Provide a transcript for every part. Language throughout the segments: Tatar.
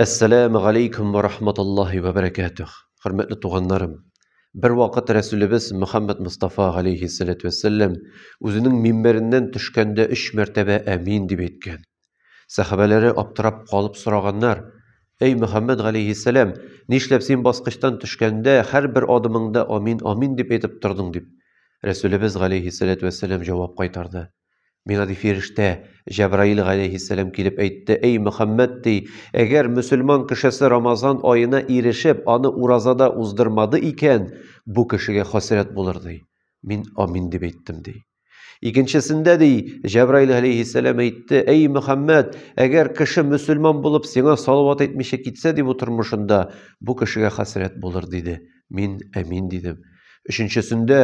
Әссәләмү галәйкүм вә рахматуллахи вә бәрәкәтүх. Хөрмәтле туганнарым, бер вакыт Рәсүлебез Мөхәммәд Мустафа галәйһиссәләтү вәссәләм үзенең мимбәреннән төшкәндә өч мәртәбә әмин дип әйткән. Сәхабәләре аптырап калып сораганнар, Әй Мөхәммәд галәйһиссәләм, нишләп син баскычтан төшкәндә һәрбер адымыңда амин, амин дип әйтеп тордың дип. Рәсүлебез галәйһиссәләтү вәссәләм җавап кайтарды. Миңа, ди, фирештә, Җәбраил галәйһиссәлам килеп әйтте, Әй, Мөхәммәд, ди, әгәр мөселман кешесе Рамазан аена ирешеп, аны уразада уздырмады икән, бу кешегә хәсрәт булыр, ди. Мин амин дип әйттем, ди. Икенчесендә, ди, Җәбраил галәйһиссәлам әйтте, Әй, Мөхәммәд, әгәр кеше мөселман булып сиңа салават әйтмичә китсә, ди, бу тормышында, бу кешегә хәсрәт булыр, диде. Мин әмин дидем. Өченчесендә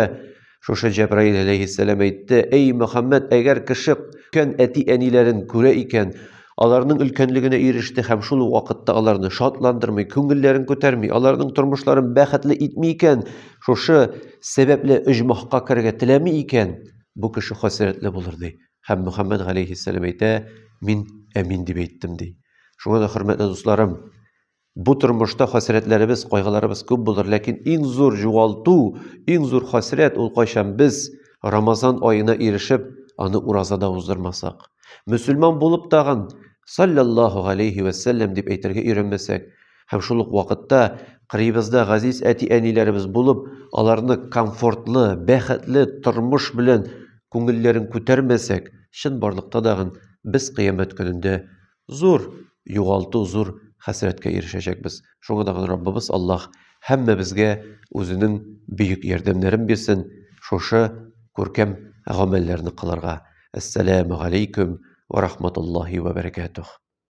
шушы Җәбраил әләйһиссәлам әйтте, Әй, Мөхәммәд, әгәр кеше көн әти-әниләрен күрә икән, аларның өлкәнлегенә иреште һәм шул ук вакытта аларны шатландырмый, күңелләрен күтәрми, аларның тормышларын бәхетле итми икән, шушы сәбәпле оҗмахка керергә теләми икән, бу кеше хәсрәтле булыр, ди. Һәм Мөхәммәд галәйһиссәлам әйтә, мин әмин дип әйттем, ди. Шуңа да, хөрмәтле дусларым, Бу тормышта хәсрәтләребез, кайгыларыбыз күп булыр, ләкин иң зур югалту, иң зур хәсрәт ул кайчан без Рамазан аена ирешеп, аны уразада уздырмасак. Мөселман булып тагын саллаллаху галейхи вә сәлләм дип әйтергә өйрәнмәсәк һәм шул ук вакытта кырыйбызда газиз әти-әниләребез булып, аларны комфортлы, бәхетле тормыш белән күңелләрен күтәрмәсәк, чын барлыкта дагын без кыямәт көнендә зур югалту, зур хәсрәткә ирешәчәкбез. Шуңа да Раббыбыз Аллаһ һәммәбезгә үзенең бөек ярдәмнәрен бирсен, шушы күркәм гамәлләрне кылырга. Әссәламү галәйкүм вә рахматуллаһи вә бәрәкәтүһ.